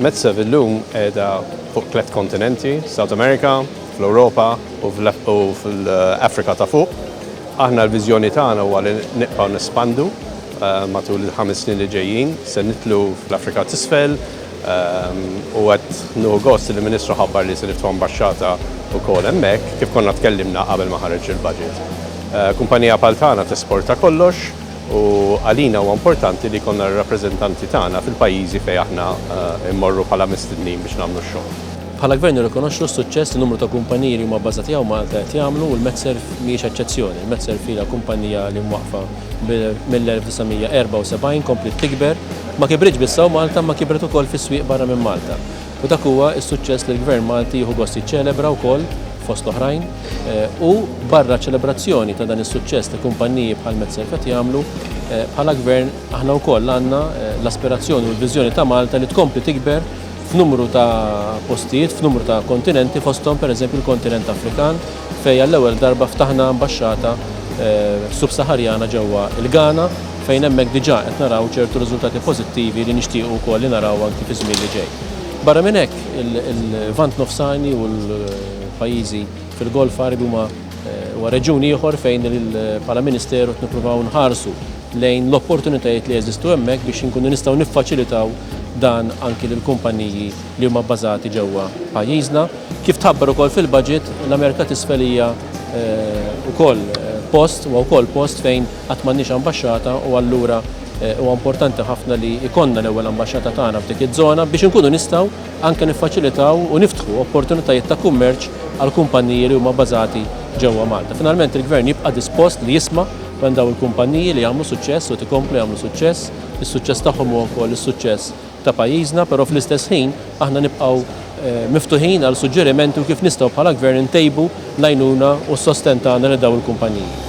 Metzev illum qiegħda fuq tliet kontinenti, South America, fl-Ewropa u fl-Afrika ta' fuq. Aħna l-viżjoni tagħna huwa li nibqgħu nespandu Matul il-ħames snin li ġejjin se nidħlu fl-Afrika t'Isfel u qed nieħu gost li l-Ministru ħabbar li se niftħu ambaxxata wkoll hemmhekk, kif konna tkellimna qabel ma ħareġ il-budget. Kumpanija bħal tagħna tesporta kollox u għalina huwa importanti li jkollna r-rappreżentanti tagħna fil-pajjiżi fejn aħna mmorru bħala mistednin biex nagħmlu x-xogħol. Bħala Gvern nirrikonoxxu s-suċċess li numru ta' kumpaniji li huma bbażati hawn Malta qed jagħmlu u l-Metserv mhijiex eċċezzjoni. Il-Metserv ilha kumpanija li mwaqqfa mill-1974 kompliet tikber, ma kibritx biss hawn Malta imma kibret ukoll fis-swieq barra minn Malta. U dak huwa s-suċċess li l-Gvern Malti jieħu gost jiċċelebra wkoll, fost l-oħrajn, u barra ċ-ċelebrazzjoni ta' dan is-suċċess li kumpanniji bħal Metzer qed jagħmlu, bħala Gvern aħna wkoll għandna l-aspirazzjoni u l-viżjoni ta' Malta li tkompli tikber f'numru ta' postijiet, f'numru ta' kontinenti fosthom pereżempju l-kontinent Afrikan, fejn għall-ewwel darba ftaħna ambaxxata Sub-Saħarjana ġewwa l-Ghana fejn hemmhekk diġà qed naraw ċertu riżultati pożittivi li nixtiequ wkoll li naraw anki fiż-żmien li ġej. Barra minn hekk, il-Lvant Nofsani u l-pajjiżi fil-Golf Għarbi huma huwa reġjun ieħor fejn bħala Ministeru qed nippruvaw nħarsu lejn l-opportunitajiet li jeżistu hemmhekk biex inkunu nistgħu niffaċilitaw dan anki lill-kumpanniji li huma bbażati ġewwa pajjiżna. Kif tħabbar ukoll fil-budget, l-Amerika t'Isfel hija wkoll post, huwa wkoll post fejn qatt m'għandniex ambaxxata u allura huwa importanti ħafna li jkollna l-ewwel ambaxxata tagħna f'dik iż-żona biex inkunu nistgħu anke niffaċilitaw u niftħu opportunitajiet ta' kummerċ għall-kumpanniji li huma bbażati ġewwa Malta. Finalment il-Gvern jibqa' dispost li jisma' minn dawn il-kumpanniji li jagħmlu suċċess u qed ikomplu jagħmlu suċċess. Is-suċċess tagħhom huwa wkoll is-suċċess ta' pajjiżna, però fl-istess ħin aħna nibqgħu miftuħin għal suġġerimenti u kif nistgħu bħala Gvern intejbu l-għajnuna u s-sostenn tagħna lil dawn il-kumpaniji.